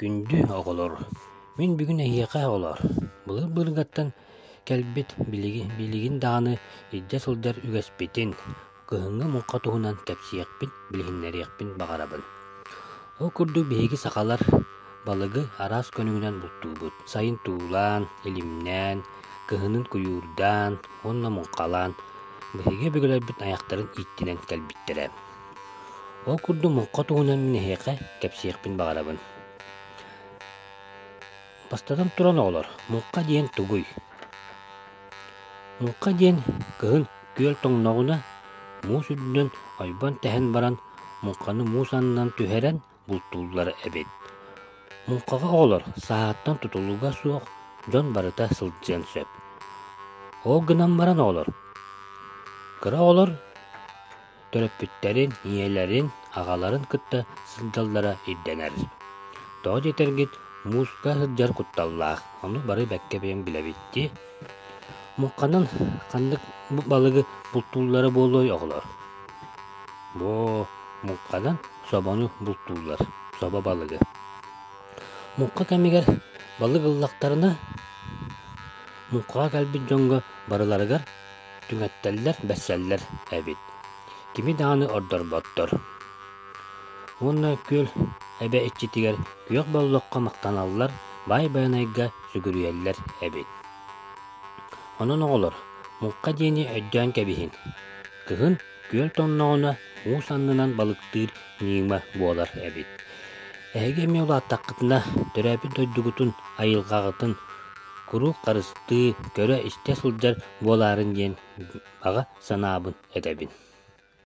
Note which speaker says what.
Speaker 1: Күндү оҕолор, мин бүгүн эһиэхэ, оҕолоор, былыр-былыргаттан кэлбит билиги, билигин даҕаны илдьэ сылдьар үгэспитин, кыһыҥҥы муҥха туһунан кэпсиэхпин, билиһиннэриэхпин баҕарабын. Ол курдук биһиги сахалар балыгы араас көнүгүнэн бултуубут, сайын туулаан, илимнээн, кыһынын куйуурдаан уонна муҥхалаан, биһиги өбүгэлэрбит айахтарын ииттинэн кэлбиттэрэ. Ол курдук муҥха туһунан мин эһиэхэ кэпсиэхпин баҕарабын. Бастатан туран, оҕолор, муҥха диэн тугуй? Муҥха диэн кыһын күөл тоҥноҕуна муус үрдүнэн ойбон тэһэн баран муҥханы муус аннынан түһэрэн бултууллар эбит. Муҥхаҕа оҕолор сааһыттан тутулуга суох дьон барыта сылдьыан сөп. Ол гынан баран оҕолор кыра оҕолор төрөппүттэрин, ийэлэрин, аҕаларын кытта сылдьаллара ирдэнэр. Тоҕо диэтэргит, мууска сылдьар кутталлаах, ону бары бэккэ бэйэм билэбит дии Муҥханан ханнык балыгы бултууллара буолуой, оҕолор? Муо, муҥханан собону бултууллар, собо балыгы. Муҥха кэмигэр балык ыллахтарына, муҥхаҕа кэлбит дьоҥҥо барыларыгар түҥэттэллэр, бэрсэллэр эбит. Кими даҕаны ордорботтор. Уонна күл эбэ иччитигэр күөх боллоххо махтаналлар, баай Байанайга сүгүрүйэллэр эбит. Онон оҕолор, муҥха диэни өйдөөн кэбиһин. Кыһын күөл тонноҕуна уус аннынан балыктыыр ньыыма буолар эбит. Эһиги эмиэ улааттаххытына, төрөөппүт дойдугутун, айылҕаҕытын куруук харыстыы, көрө-истэ сылдьар буолаарын диэн баҕа санаабын этэбин.